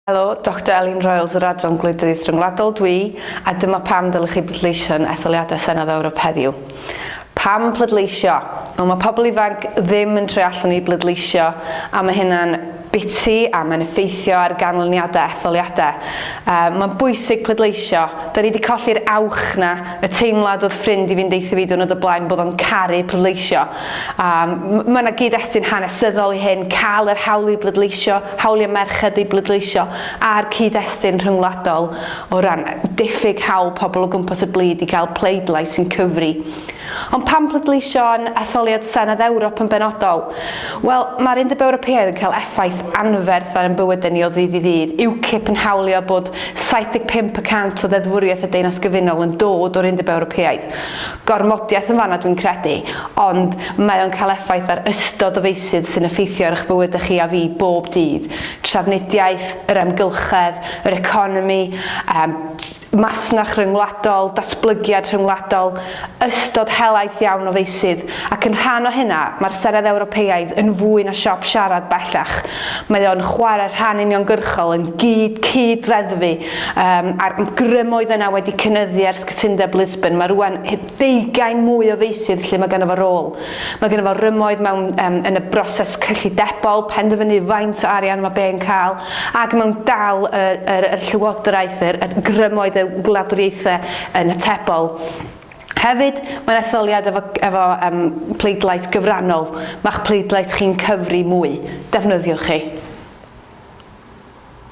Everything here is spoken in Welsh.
Helo, Doctor Elin Royals yr Adran Gwleidyddiaeth Ryngwladol dwi, a dyma pam dylech chi bleidleisio yn etholiadau Senedd Ewrop heddiw. Pam pleidleisio? Wel, mae pobl ifanc ddim yn troi allan i bleidleisio, a mae hynna'n biti a mae'n effeithio ar ganlyniadau etholiadau. Uh, mae'n bwysig pleidleisio. Da ni wedi colli'r awch na, y teimlad oedd ffrind i fynd eitha fi dwrnod o blaen bod o'n caru pleidleisio. Um, mae yna gyd-destun hanesyddol i hyn, cael yr hawl i bleidleisio hawliau merched i bleidleisio a'r cyd-destun rhyngwladol o ran diffyg hawl pobl o gwmpas y byd i gael pleidlais sy'n cyfri. Ond pam pleidleisio yn etholiad Senedd Ewrop yn benodol? Wel, mae'r Undeb Ewropeaidd yn cael effaith anferth ar ein bywydau ni o ddydd i ddydd. UKIP yn hawlio bod 75 y cant o ddeddfwriaeth y Deyrnas Gyfunol yn dod o'r Undeb Ewropeaidd. gormodiaeth yn fanna dwi'n credu, ond mae o'n cael effaith ar ystod o feysydd sy'n effeithio ar eich bywydau chi a fi bob dydd, trafnidiaeth, yr amgylchedd, yr economi, yym, masnach rhyngwladol, datblygiad rhyngwladol, ystod helaeth iawn o feysydd, ac yn rhan o hynna, mae'r Senedd Ewropeaidd yn fwy na siop siarad bellach, mae o'n chwarae rhan uniongyrchol yn gyd-cyd-ddeddfu Um, a'r grym oedd yna wedi cynyddu ers cytundeb Lisbon. Mae rwan deugain mwy o feisydd lle mae gennym fo rôl. Mae gennym fo rymoedd mewn, um, yn y broses cyllidebol, penderfynu faint o arian mae be'n cael, ac mewn dal y, y, y llywodraeth, y, y grymoedd y gwladwriaethau yn y tebol. Hefyd, mae'n etholiad efo, efo um, pleidlais gyfrannol. Mae'ch pleidlais chi'n cyfri mwy. Defnyddiwch chi.